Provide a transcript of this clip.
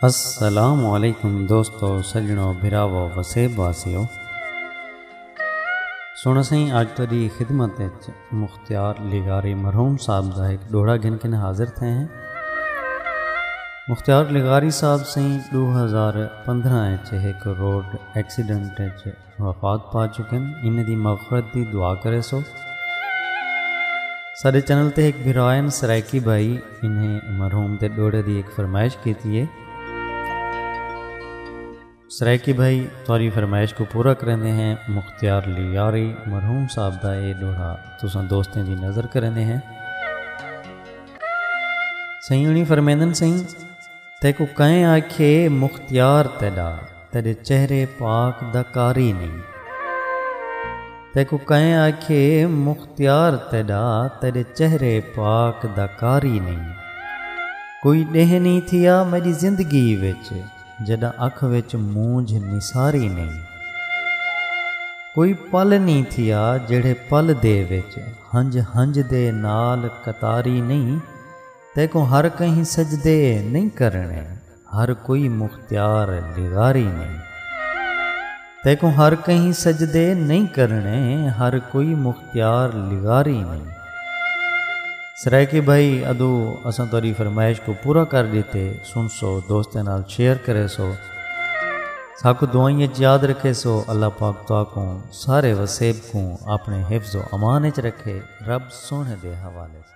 السلام علیکم دوستو سجنو بھراو وسیب واسیو سونا سائیں اج تیری خدمت وچ مختیار لغاری مرحوم صاحب دا ایک ڈوڑا گھن کے حاضر تھے ہیں مختیار لغاری صاحب سائیں 2015 وچ ایک روڈ ایکسیڈنٹ وچ وفات پا چکن انہیں دی مغفرت دی دعا کرے سو سارے چینل تے ایک بھرائن سرائیکی بھائی انہیں مرحوم تے ڈوڑے دی ایک فرمائش کیتی ہے سرائیکی بھائی توری فرمائش کو پورا کرنے ہیں مختیار لیاری مرحوم صاحب دا اے ڈوڑا تساں دوستیں دی نظر کرنے ہیں سہی انہیں فرمیندن سہی تے کو کہیں آکھے مختیار تیڈا تیݙے چہرے پاک دا قاری نئیں۔ تیکوں کئیں آکھیے مختیار تیݙا تیݙے چہرے پاک دا قاری نئیں۔ کوئی ݙینہہ نئیں تھیا میݙی زندگی وچ جݙاں اکھ وچ مونجھ نثاری نئیں۔ کوئی پل نئیں تھیا جیڑھے پل دے وچ ہنج ہنج دے نال قطاری نئیں۔ تیکوں ہر کہیں سجدے نئیں کرݨے ہر کوئی مختیار لغاری نئیں تیکوں ہر کہیں سجدے نئیں کرݨے ہر کوئی مختیار لغاری نئیں سرائیکی بھائی ادو اساں تاری فرمائش کو پورا کر دیتے سن سو دوستیں نال شیئر کرے سو ساکو دعائیں یاد رکھے سو اللہ پاک تو کو سارے وسیب کو اپنے حفظ و امان چ رکھے رب سونے دے حوالے سے